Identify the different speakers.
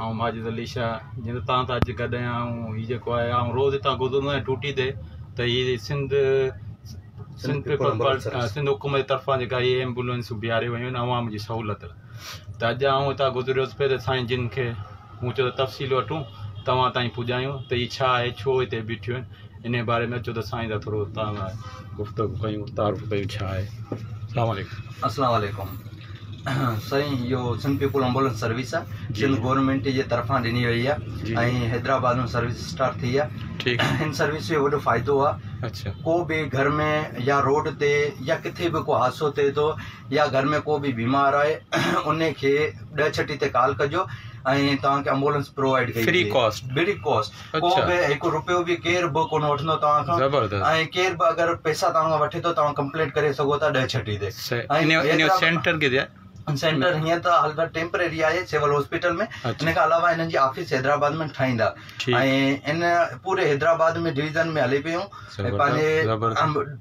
Speaker 1: آئون ماجد علي شاهه جنهن تي تان تان اڄ گڏ آهيان آئون هي جيڪو آهي آئون روز هتان گذرندو آهيان ٽوٽي تي ته هي سنڌ سنڌ پيپلز پارٽي سنڌ حڪومت جي طرفان جيڪا هي ايمبولينسون بيهاريون ويون آهن عوام جي سهولت لاء ته اڄ آئون هتان گذريو هوس پهرين سائين جن کي مون چيو ته تفصيل وٺون توهان تائين پڄايون ته هي ڇا آهي ڇو هتي بيٺيون آهن انهي باري ۾ اچو ته سائين سان ٿورو توهان سان گفتگو ڪيون تعارف ڪيون ڇا آهي اسلام
Speaker 2: عليڪم. اسلام عليڪم سائين اهو سنڌ پيپل امبولنس سروس آ سنڌ گورنمينٽ جي طرفان ڏني وئي آ ۽ حيدرآباد ۾ سروس اسٽارٽ ٿي آ هن سروس جو وڏو فائدو آ ڪو به گهر ۾ يا روڊ تي يا ڪٿي به ڪو حادثو ٿئي ٿو يا گهر ۾ ڪو به بيمار آهي ان کي ڏهه ڇٽي تي ڪال ڪجو ۽ توهان کي امبولنس پرووائيڊ ڪئي ويندي فري ڪاسٽ ڪو به هڪ روپيو به ڪير به ڪونه وٺندو توهان کان ۽ ڪير به اگر پئسا توهان کان وٺي ٿو توهان ڪمپلينٽ ڪري سگهو ٿا ڏهه ڇٽي تي سينٽر
Speaker 1: ڪٿي آهي سينٽر هيئن ته
Speaker 2: حال فلحال ٽيمپرري آهي سول هاسپيٽل ۾ ان کان علاوه هنن جي آفيس حيدرآباد ۾ ٺاهيندا ۽ ان پوري حيدرآباد ۾ ڊويزن ۾ هلي پيون پنهنجي